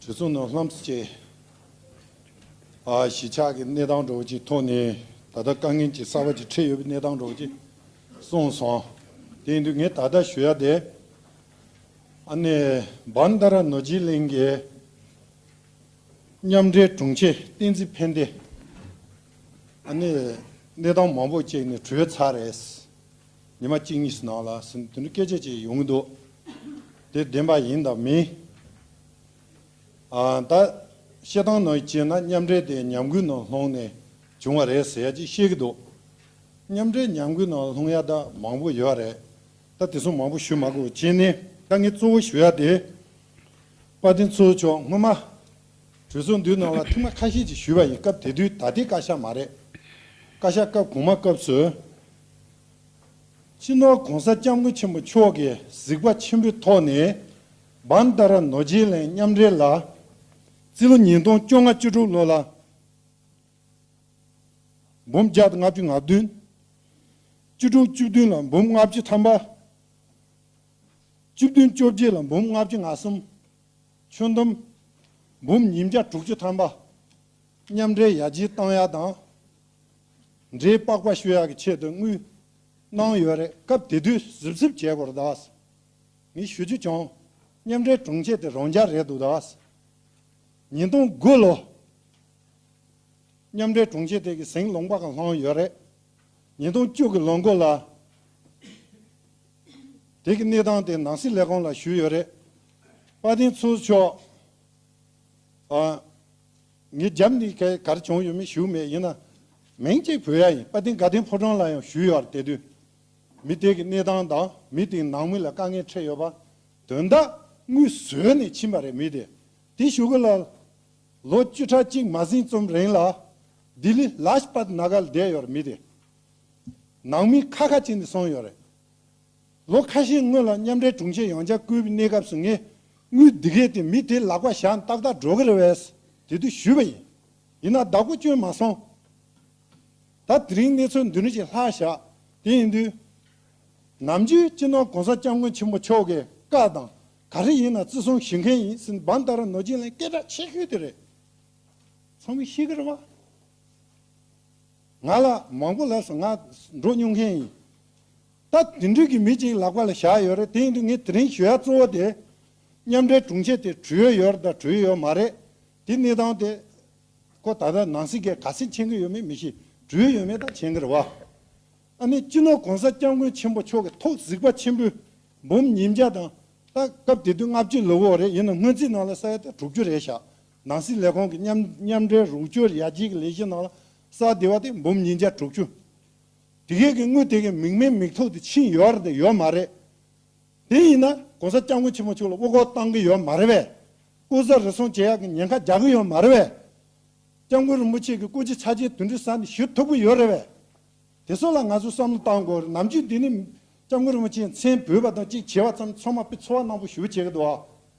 དྲི་བསུང་རྣམས་ལྷམ་སེ་བྱས། གཞིས་ཆགས་ཀྱི་གནས་སྟངས་གྲོགས་ཀྱིས་མཐོང་ནས་ད་ལྟ་དཀའ་ངལ་གྱི་གསར་བ་ཅིག་འཕྲད་ཡོད་པའི་གནས་སྟངས་གྲོགས་ཀྱིས་གསུངས་སོང། དེ་འདུག་ངས་ད་ལྟ་ཞུ་ཡ་དེ། ཨ་ནེ་སྦན་ད་ར་ནོར་སྦྱིན་གླིང་གི་མཉམ་འབྲེལ་དྲུང་ཆེ་བསྟན་འཛིན་ཕན་བདེ་ཨ་ནེ་གནས་སྟངས་མང་པོ་བཅས་ནས་དྲུད་ཚར་རེད། ཉི་མ་གཅིག་གཉིས་སུ་ནང་ལ་ཟིན་དུས་འདི་འདྲའི་སྐད་ཆ་ཅིག་ཡོང་གི་འདུག་དེ་བདེན་པ་ཡིན་དང་མིན། ད་བཤད་སྟངས་ནང་བཞིན་བྱས་ན་མཉམ་འབྲེལ་དེ་ཉམས་རྒུད་ནང་ལྷུང་ནས་བྱུང་བ་རེད་ཟེར་ཡ་གཅིག་བཤད་གི་འདུག་མཉམ་འབྲེལ་ཉམས་རྒུད་ནང་ལྷུང་ཡ་ད་མང་པོ་ཡོད་རེད་ད་དེ་ཚོ་མང་པོ་ཞུ་མ་དགོས་གཅིག་ནི་དཀའ་ངལ་གཙོ་བོ་ཞུ་ཡ་དེ་དཔའ་བདེན་ཚུལ་མཆོག་སྔོན་མ། གྲོས་ཚོགས་འདུའི་ནང་ལ་ཐིག་མ་ཁ་ཤས་ཅིག་ཞུས་པ་ཡིན་སྐབས་དེ་དུས་ད་ལྟའི་བཀའ་ཤག་མ་རེད། བཀའ་ཤག་སྐབས་གོང་མ་སྐབས་སུ། སྤྱི་ནོར ྋགོང་ས ྋསྐྱབས་མགོན་ཆེན་པོ་མཆོག་གིས་གཟིགས་པ་ཆེན་པོའི་ཐོག་ནས། བཱན་ཏཱ་ར་ནོར་རྗེས་ལེན་མཉམ་འབྲེལ་ལ། སྤྱི་ལོ་ཉིས་སྟོང་བཅོ་ལྔ་བཅུ་དྲུག་ལོ་ལ། འབུམ་བརྒྱ་དང་ལྔ་བཅུ་ང་བདུན། བཅུ་དྲུག་བཅུ་བདུན་ལ་འབུམ་ལྔ་བཅུ་ཐམ་པ། བཅུ་བདུན་བཅོ་བརྒྱད་ལ་འབུམ་ལྔ་བཅུ་ང་གསུམ། ཆོས་འདུམ། འབུམ་ཉིས་བརྒྱ་དྲུག་ཅུ་ཐམ་པ། མཉམ་འབྲེལ་ཡ་བྱིའི་གཏམ་ཡག་དང། འབྲེལ་དཔག་པ་ཤོད་ཡག་གི་ཆེད་དུ་དངུལ། གནང་ཡོད་རེད་སྐབས་དེ་དུས་གཟིབ་གཟིབ་བྱས་གོ་རེད་ད། མི་ཞུ་རྒྱུ་བྱུང། མཉམ་འབྲེལ་དྲུང་ཆེ་དེ་རང་རྒྱ་རེད་འདུག་ད། ཉིས་སྟོང་དགུ་ལོ། མཉམ་འབྲེལ་དྲུང་ཆེ་དེ་གི་ཟིང་ལོང་པ་གང་བསླངས་ཡོད་རེད། ཉིས་སྟོང་བཅུ་གི་ལོ་འགོ་ལ། དེ་གི་གནས་སྟངས་དེ་ནང་སྲིད་ལས་ཁང་ལ་ཞུས་ཡོད་རེད། དཔའ་གདེང་ཚུལ་མཆོག། ངའི་རྒྱབ་ནི་ག་གར་བྱུང་ཡོད་མེད་ཞུས་མེད་ཡིན་ན། མིང་གཅིག་བོད་ཡ་ཡིན་དཔའ་གདེང་དགའ་ལྡན་ཕོ་བྲང་ལ་ཡང་ཞུས་ཡོད་ར་དེ་དུས། མི་དེ་གི་གནས་སྟངས་དང་མི་དེ་ནང་མི་ལ་དཀའ་ངལ་འཕྲད་ཡོད་པ། དོན་དག་དངོས་བཟོས་ནས་ཕྱིན་པ་རེད་མི་དེ། དེ་ཞུ་གི་ལ། ལོ་བཅུ་ཕྲག་གཅིག་མ་ཟིན་ཙུམ་རིང་ལ། ལྡི་ལི་ལཱ་ཞི་པད་ནཱ་ག་ལ་བསྡད་ཡོད་ར་མི་དེ། ནང་མི་ཁ་ཁ་བྱས་ནས་སོང་ཡོད་རེད། ལོ་ཁ་ཤས་སྔོན་ལ་མཉམ་འབྲེལ་དྲུང་ཆེ་ཡང་ཆ་བསྐུལ་བའི་གནས་སྐབས་སུ་ངས་དངུལ་སྡི་གས་དེ་མི་དེའི་ལག་པ་བཞག་ནས་ཏག་ཏག་འགྲོ་གི་རེད་བས་དེ་དུས་ཞུས་པ་ཡིན། ཡིན་ན་བདག་པོ་བསྐྱོན་མ་སོང། ད་དེ་རིང་གནས་ཚུལ་འདི་འདྲ་ཞིག་ལྷག་བཞག་དེ་ཡིན་དུས། ནམ་རྒྱུན་སྤྱི་ནོར་གོང་ས་སྐྱབས་མགོན་ཆེན་པོ་མཆོག་གི་བཀའ་དང་ག་རེ་ཡིན་ན་བརྩི་སྲུང་ཞུ་མཁན་ཡིན་ཟིན་བམ་ད་ར་ནོར་རྒྱུན་ལན་སྐད་གྲགས་ཆེ་ཤོས་དེ་རེད། ཚང་མས་ཤེས་ཀི་རེད་བ། ང་ལ་མང་པོ་ལབ་སོང་ང་འགྲོ་སྨྱོ་མཁན་ཡིན། ད་དེ་འདྲུད་ཀྱི་མི་ཅིག་ལག་པ་ལ་བཞག་ཡོད་རེད་དེ་ཡིན་དུས་ངས་དེ་རིང་ཞུ་ཡག་གཙོ་བོ་དེ། མཉམ་འབྲེལ་དྲུང་ཆེ་དེ་གྲོས་ཡོད་ཡོད་དང་གྲོས་ཡོད་མ་རེད་དེ་གནས་སྟངས་དེ། ཁོ་ད་ལྟ་ནང་སྲིད་ཀས་ག་སེ་མཁྱེན་གི་ཡོད་མེད་མི་ཤེས་གྲོས་ཡོད་མེད་དང་མཁྱེན་གི་རེད་བ། ཨ་ནི་སྤྱི་ནོར་གོང་ས་སྐྱབས་མགོན་ཆེན་པོ་མཆོག་གི་ཐོག་གཟིགས་པ་ཆེན་པོའི་འབུམ་ཉིས་བརྒྱ་དང། ད་སྐབས་དེ་དུས་ལྔ་བཅུ་ལོ་བོ་རེད་ཡིན་ནམ་སྔོན་རྩིས་ནང་ལ་ས་ཡ་དང་དྲུག་ཅུ་རེད་བཞག་ནང་སྲིད་ལས་ཁང་གི་མཉམ་འབྲེལ་རོགས་སྐྱོར་ཡར་རྒྱས་ཀྱི་ལས་གཞིའི་ནང་ལ་གསར་བདེ་བ་དེ་འབུམ་ཉིས་བརྒྱ་དྲུག་ཅུ། དེ་གའི་གི་དངུལ་དེ་གའི་མིག་མེད་མིག་ཐོག་ཏུ་ཕྱིན་ཡོད་རེད་དེ་ཡོད་མ་རེད། དེ་ཡིན་ན ྋགོང་ས ྋསྐྱབས་མགོན་ཆེན་མོ་མཆོག་ལ་དབུ་འཁོར་བཏང་གི་ཡོད་མ་རེད་བས། སྐུ་ཟ་རེ་སོང་བྱེད་ཡག་གི་ཉེན་ཁ་རྒྱག་གི་ཡོད་མ་རེད་བས། ྋསྐྱབས་མགོན་རིན་པོ་ཆེ་གི་སྐུ་ཚེ་ཆ་རྗེས་དུས་འདི་ས་ནས་བཞུད་ཐུབ་གི་ཡོད་རེད་བས། དེ་ཚོ་ལ་ང་ཚོས་བསམ་བློ་བཏང་དགོས་རེད་ནམ་རྒྱུན་འདི་ནས ྋསྐྱབས་མགོན་རིན་པོ་ཆེའི་མཚན་བོས་པ་དང་གཅིག་བྱེད་པ་ཙམ་ཚང་མ་པི་ཚོ་བ་གནང་པོ་ཞུ་བྱེད་གི་འདུག་ཨ།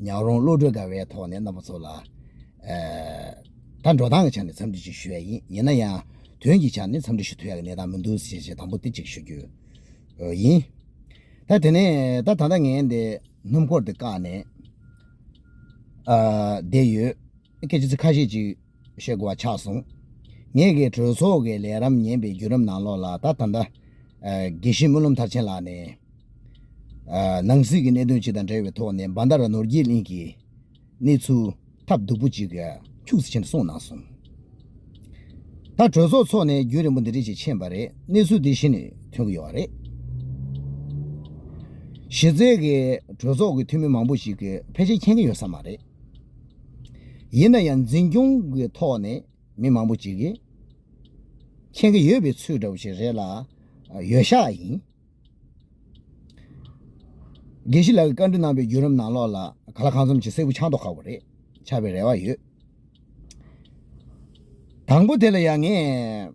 ཉག་རོང་བློ་གྲོས་དགའ་བའི་ཐོག་ནས་རྣམ་པ་ཚོ་ལ། ད་འགྲོ་སྟངས་ཀྱི་ཆ་ནས་འཚམས་འདྲི་ཅིག་ཞུ་ཡ་ཡིན་ཡིན་ན་ཡང་དོན་གྱི་ཆ་ནས་འཚམས་འདྲི་ཞུ་ཐུབ་ཡ་གི་གནས་སྟངས་མི་འདུག་ཟེར་ཞེས་དང་པོ་དེ་གཅིག་ཞུ་རྒྱུ་ཡིན། ད་དེ་ནས་ད་ད་ལྟ་ངས་འདི་སྣུམ་འཁོར་འདི་བཀག་ནས་བསྡད་ཡོད། སྐད་ཆ་ཚིག་ཁ་ཤས་ཅིག་ཞེས་གོ་བ་ཆགས་སོང། ངེད་ཀྱིས་གྲོས་ཚོགས་ཀྱི་ལས་རམས་ཉན་པའི་བརྒྱུད་རིམ་ནང་ལོགས་ལ་ད་ད་ལྟ། དགེ་བཤེས་སྨོན་ལམ་མཐར་ཕྱིན་ལགས་ནས། ནང་སྲིད་ཀྱི་གནད་དོན་ཅིག་དང་འབྲེལ་བའི་ཐོག་ནས་འབའ་མདའ་ར་ནོར་རྒྱས་གླིང་གི་གནས་ཚུལ་ཐབས་སྡུག་པོ་ཅིག་འཁྱུགས་ཟིན་ཕྱིན་གསུངས་གནང་སོང། ད་གྲོས་ཚོགས་འཚོགས་ནས་བརྒྱུད་རིམ་པོ་འདི་རིགས་ཅིག་ཕྱིན་པ་རེད་གནས་ཚུལ་འདི་གཞི་ནས་ཐོན་གྱི་ཡོད་པ་རེད། གཞི་རྩའི་གྲོས་ཚོགས་ཀྱི་འཐུས་མི་མང་པོ་ཞིག་ཕལ་ཆེར་མཁྱེན་གྱི་ཡོད་ས་མ་རེད། ཡིན་ན་ཡང་འཛིན་སྐྱོང་གི་ཐོག་ནས་མི་མང་པོ་ཅིག་གིས་མཁྱེན་གྱི་ཡོད་པའི་ཚུལ་འདྲ་བོ་ཞིག་རེད་ལ། ཡོད་ཤག་ཡིན། དགེ་བཤེས་ལགས་ཀྱིས་བཀའ་འདྲི་གནང་པའི་བརྒྱུད་རིམ་ནང་ལོགས་ལ་ག་ལ་གང་འཚམ་ཞིག་སེར་བུ་ཆང་ཐོག་ཁ་བོ་རེད་ཆགས་པའི་རེ་བ་ཡོད། དང་པོ་དེ་ལ་ཡང་ངས།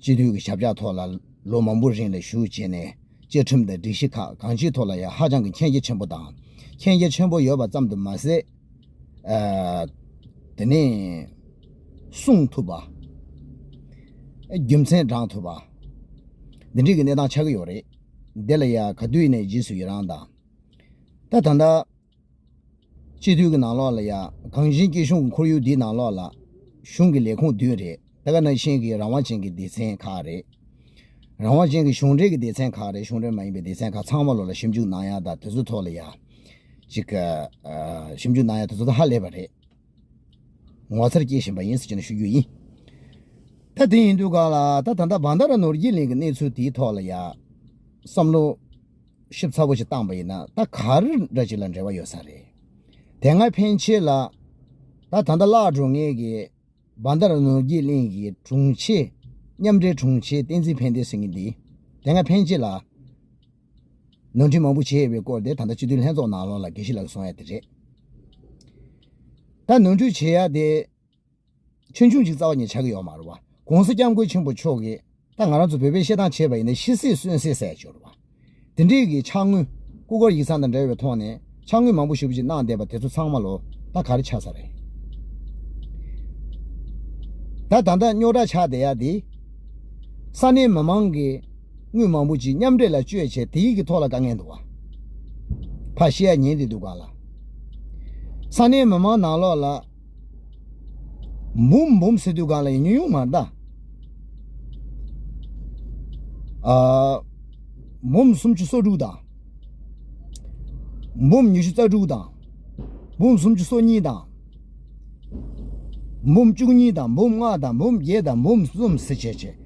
སྤྱི་འཐུས་ཀྱི་ཞབས་བཅགས་ཐོག་ལ་ལོ་མང་པོ་རིང་ལས་ཞུགས་བྱས་ནས་བཅའ་ཁྲིམས་དང་སྒྲིག་གཞི་ཁག་གང་ཅིའི་ཐོག་ལ་ཡང་ཧ་ཅང་གི་མཁྱེན་རྒྱ་ཆེན་པོ་དང་མཁྱེན་རྒྱ་ཆེན་པོ་ཡོད་པ་ཙམ་དུ་མ་ཟད། དེ་ནས་གསུང་ཐུབ་པ། རྒྱུ་མཚན་བགྲང་ཐུབ་པ། འདི་འདྲིས་ཀྱི་གནས་སྟངས་ཆགས་ཀྱི་ཡོད་རེད། དེ་ལ་ཡང་ག་དུས་ནས་རྗེས་སུ་ཡི་རང་དང། ད་ད་ལྟ། སྤྱི་འཐུས་ཀྱི་ནང་ལོགས་ལ་ཡང་གངས་ཅན་སྐྱིད་གཤོངས་ཀྱི་ཁོར་ཡུག་འདིའི་ནང་ལོགས་ལ། གཞུང་གི་ལས་ཁུངས་བདུན་རེད་དེ་ག་ནང་བཞིན་གྱི་རང་དབང་ཅན་གྱི་སྡེ་ཚན་ཁག་རེད། རང་དབང་ཅན་གྱི་གཞུང་འབྲེལ་གྱི་སྡེ་ཚན་ཁག་རེད་གཞུང་འབྲེལ་མ་ཡིན་པའི་སྡེ་ཚན་ཁག་ཚང་མ་ལོགས་ལ་ཞིབ་འཇུག་གནང་ཡག་དང་དེ་ཚོའི་ཐོག་ལ་ཡང། ཅིག། ཞིབ་འཇུག་གནང་ཡག་དེ་ཚོ་ད་ཧ་ལས་པ་རེད། ངོ་མཚར་སྐྱེས་བཞིན་པ་ཡིན་ཟེར་གྱི་ན་ཞུ་རྒྱུ་ཡིན། ད་དེ་ཡིན་དུས་ག་ལ་ད་ད་ལྟ་བ་འདི་ར་ནོར་རྒྱས་གླིང་གི་གནས་ཚུལ་དེའི་ཐོག་ལ་ཡང། བསམ་བློ། ཞིབ་ཚགས་པོ་ཞིག་བཏང་པ་ཡིན་ན་ད་ག་རེ་འདྲ་ཅིག་ལ་འབྲེལ་བ་ཡོད་ས་རེད་དེ་སྔར་ཕན་ཆེ་ལ། ད་ད་ལྟ་བླ་སྒྲོ་ངེས་ཀྱི་འབའ་མདར་ནོར་རྒྱས་གླིང་གི་དྲུང་ཆེ། མཉམ་འབྲེལ་དྲུང་ཆེ་བསྟན་འཛིན་ཕན་བདེ་ཟེར་མཁན་འདིས་དེ་སྔར་ཕན་ཆེ་ལ། ནོར་འཁྲིད་མང་པོ་བྱས་པའི་སྐོར་དེ་ད་ལྟ་སྤྱི་འཐུས་ལྷན་ཚོགས་ནང་ལོགས་ལ་དགེ་བཤེས་ལགས་སུ་སོང་ཡ་དེ་རེད། ད་ནོར་འཁྲུད་བྱེད་ཡ་དེ་ཆོས་འབྱུང་གཅིག་རྩ་བ་ཉིད་ཆགས་ཀྱི་ཡོད་མ་རུང་བ། གོང་ས་སྐྱབས་མགོན་ཆེན་པོ་མཆོག་གིས་ད་ང་རང་ཚོ་བོད་པས་བཤད་སྟངས་བྱས་པ་ཡིན་ན་ཤི་སྲིད་གསོན་སྲིད་ཟེར་འགྱུར་བ། དེ་འདྲས་ཀྱི་ཕྱག་དངུལ། སྐུ་སྒོར་ཡིག་ཚང་དང་འབྲེལ་བའི་ཐོག་ནས་ཕྱག་དངུལ་མང་པོ་ཞིབ་ཅིག་གནང་བསྡད་པ་དེ་ཚོ་ཚང་མ་ལོ་ད་ག་རེ་ཆགས་ས་རེད། ད་ད་ད་རྙོག་དྲ་ཆགས་བསྡད་ཡ་དེ། ས་གནས་མི་མང་གིས་དངུལ་མང་པོ་ཅིག་མཉམ་འབྲེལ་ལ་སྤྱོད་བྱས་དེ་ཡིག་གི་ཐོག་ལ་དཀའ་ངལ་འདུག་བ། ཕ་ཤི་ཡ་ཉན་བསྡད་འདུག་ག་ལ། ས་གནས་མི་མང་ནང་ལོགས་ལ། འབུམ་འབུམ་ཟེར་དུས་གང་ལ་ཡིན་ཉུང་ཉུང་མ་གདའ། འབུམ་སུམ་ཅུ་སོ་དྲུག་དང། འབུམ་ཉི་ཤུ་རྩ་དྲུག་དང། འབུམ་སུམ་ཅུ་སོ་གཉིས་དང། འབུམ་བཅུ་གཉིས་དང་འབུམ་ལྔ་དང་འབུམ་བརྒྱད་དང་འབུམ་གསུམ་ཟེར་བྱས་བྱས།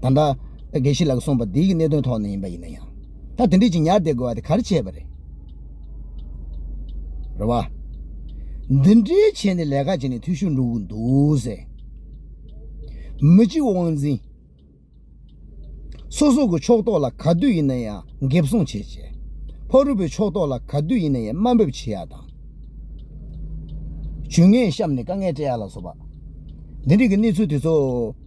ད་ལྟ། དགེ་བཤེས་ལགས་གསུངས་པ་འདི་ཡིག་གནད་དོན་ཐོག་ནས་ཡིན་པ་ཡིན་ན་ཡང། ད་དེ་འདྲས་ཀྱི་ཉར་བསྡད་དགོས་བ་དེ་གར་བྱས་པ་རེད། རེད་བ། འདི་འདྲས་བྱས་ནས་ལས་ཀ་བྱས་ནས་འཐུས་ཤོར་འགྲོ་གི་འདུག་ཟེར། མི་གཅིག་དབང་འཛིན། སོ་སོ་གི་ཕྱོགས་གཏོགས་ལ་ག་དུས་ཡིན་ན་ཡང་འགེབས་སྲུང་བྱེད་ཅེས། ཕ་རུ་པའི་ཕྱོགས་གཏོགས་ལ་ག་དུས་ཡིན་ན་ཡང་དམའ་འབེབས་བྱེད་ཡག་དང། ཇུས་ངན་བཤམས་ནས་དཀའ་ངལ་སྤྲད་ཡག་ལ་སོགས་པ། འདི་འདྲས་ཀྱི་གནས་ཚུལ་དེ་ཚོ།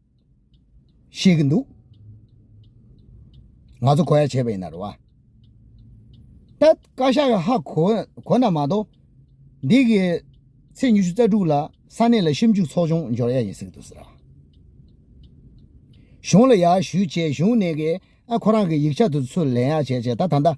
ཤེས་ཀྱི་འདུག་ང་ཚོ་གོ་ཡ་བྱས་པ་ཡིན་ན་རེད་བ། ད་བཀའ་ཤག་གི་ཧ་གོ་གོ་ན་མ་གཏོགས་འདི་གི་ཚེས་ཉི་ཤུ་རྩ་དྲུག་ལ་ས་གནས་ལ་ཞིབ་འཇུག་ཚོགས་ཆུང་འབྱོར་ཡ་ཡིན་ཟེར་གྱི་འདུག་ཟེར། གཞུང་ལ་ཡར་ཞུས་བྱས་གཞུང་ནས་ཀྱི་ཨ་ཁོ་རང་གི་ཡིག་ཆ་དེ་ཚུར་ལེན་ཡ་བྱས་བྱས་ད་ད་ལྟ།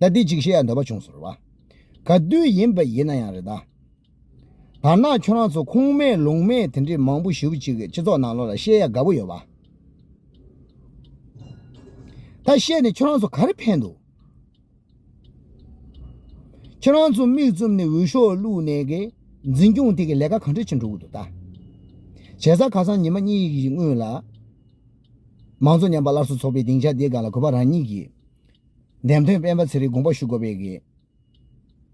ད་འདི་འཇིགས་བྱེད་ཡང་འདོད་པ་བྱུང་ཟེར་བ། ག་དུས་ཡིན་པ་ཡིན་ན་ཡང་རེད་ད། དར་ནག་ཁྱོད་རང་ཚོ་ཁུངས་མེད་ལུང་མེད་དེ་འདྲི་མང་པོ་ཞུབ་ཅིག་སྤྱི་ཚོགས་ནང་ལོག་ལ་བཤད་ཡ་དགའ་པོ་ཡོད་བ། ད་བཤད་ནས་ཁྱོད་རང་ཚོ་ག་རེ་ཕན་འདུག། ཁྱོད་རང་ཚོ་མིག་བཙུམ་ནས་འུད་ཤོག་བླུག་ནས་གི་འཛིན་སྐྱོང་དེ་གི་ལས་ཀ་གང་འདྲ་བྱེད་འགྲོ་གི་འདུག་ད། བྱས་ཙང་ཁ་སང་ཉི་མ་གཉིས་ཀྱི་སྔོན་ལ། མང་གཙོ་ཉམས་པ་སླར་གསོ་ཚོགས་པའི་སྡིངས་ཆ་དེའི་སྒང་ལ་གུས་པ་རང་ཉིད་ཀྱིས། འདེམས་ཐོན་སྤེན་པ་ཚེ་རིང་དགོངས་པ་ཞུ་དགོས་པའི་གེགས།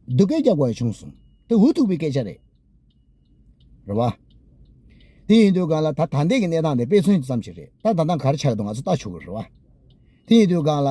སྡུག་སྐད་རྒྱག་དགོས་པ་བྱུང་སོང། དེ་འུ་ཐུག་པའི་སྐད་ཆ་རེད། རེད་བ། དེ་ཡིན་དུས་སྒང་ལ་ད་ད་འདས་ཀྱི་གནས་སྟངས་དེ་དཔེ་མཚོན་ཙམ་ཞིག་རེད་ད་ད་ད་གར་ཆགས་འདུག་ང་ཚོ་ལྟ་ཆོག་གི་རེད་བ། དེ་ཡིན་དུས་སྒང་ལ།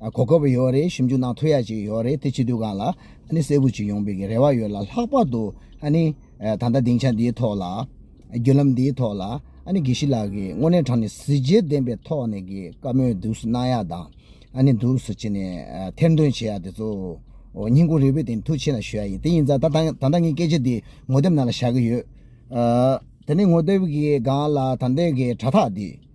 གོ་སྐབས་ཡོད་རེད་ཞིབ་འཇུག་གནང་ཐུབ་ཡག་ཅིག་ཡོད་རེད་དེ་བྱེད་དུས་གང་ལ་གསལ་པོ་ཅིག་ཡོང་པའི་རེ་བ་ཡོད་ལ་ལྷག་པར་དུ་ད་ལྟ་སྡིངས་ཆ་འདིའི་ཐོག་ལ་བརྒྱུད་ལམ་འདིའི་ཐོག་ལ་དགེ་བཤེས་ལགས་ཀྱིས་དངོས་གནས་དྲང་ནས་གཟི་བརྗིད་ལྡན་པའི་ཐོག་ནས་ཀྱི་བཀའ་མོལ་འདུག་སུ་གནང་ཡག་དང་འདུག་སུ་བྱེད་ནས་ཐེར་འདོན་བྱེད་ཡག་དེ་ཚོ་སྙིང་ཁུང་རེ་བོས་དེ་ཐུགས་ཆེ་ལ་ཞུ་ཡག་ཡིན་དེ་ཡིན་ཙང་ད་ལྟ་ངས་སྐད་ཆ་འདི་ངོ་དེབ་ནང་ལ་བཞག་གི་ཡོད་དེ་ནས་ངོ་དེབ་ཀྱི་སྒང་ལ་ད་ལྟའི་དྲ་ཐག་འདི།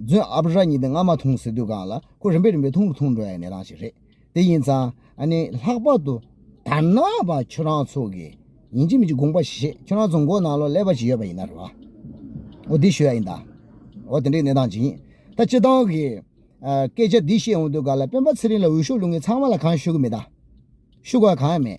རྫུན་ཨ་བྷ་ར་གཉིས་དེ་སྔ་མ་འཐུང་ཟེར་དུས་གང་ལ་ཁོ་རིམ་པས་རིམ་པས་འཐུང་རུ་འཐུང་འགྲོ་ཡ་ནི་རང་ཞིག་རེད་དེ་ཡིན་ཙང་ཨ་ནི་ལྷག་པར་དུ་ད་ནག་པ་ཁྱོད་རང་ཚོ་གིས་ཡིན་གཅིག་མིན་གཅིག་དགོངས་པ་བཞེས་ཁྱོད་རང་ཚོ་མགོ་ནང་ལོ་ཀླད་པ་ཅིག་ཡོད་པ་ཡིན་ན་རེད་བ་འོ་འདི་ཞུ་ཡ་ཡིན་ད་འོ་དེ་འདྲའི་གནས་སྟངས་ཅིག་ཡིན་ད་སྤྱི་བཏང་གི་སྐད་ཆ་འདི་བཤད་འོང་དུས་ག་ལ་སྤེན་པ་ཚེ་རིང་ལ་འོས་ཤོག་བླུག་མཁན་ཚང་མ་ལ་གང་ཞུ་གི་མེད་ད་ཞུ་དགོས་གང་ཡང་མེད་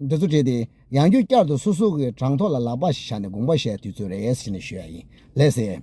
འདི་ཚོ་བྲིས་ཏེ་ཡང་རྒྱུད་བསྐྱར་དུ་སོ་སོ་གི་དྲང་ཐོག་ལ་ལག་པ་ཞིག་བཞག་ནས་དགོངས་པ་བཞེས་དུས་ཚོད་རེ་ཟིན་ནས་ཞུ་ཡ་ཡིན་ལས་ཟེར།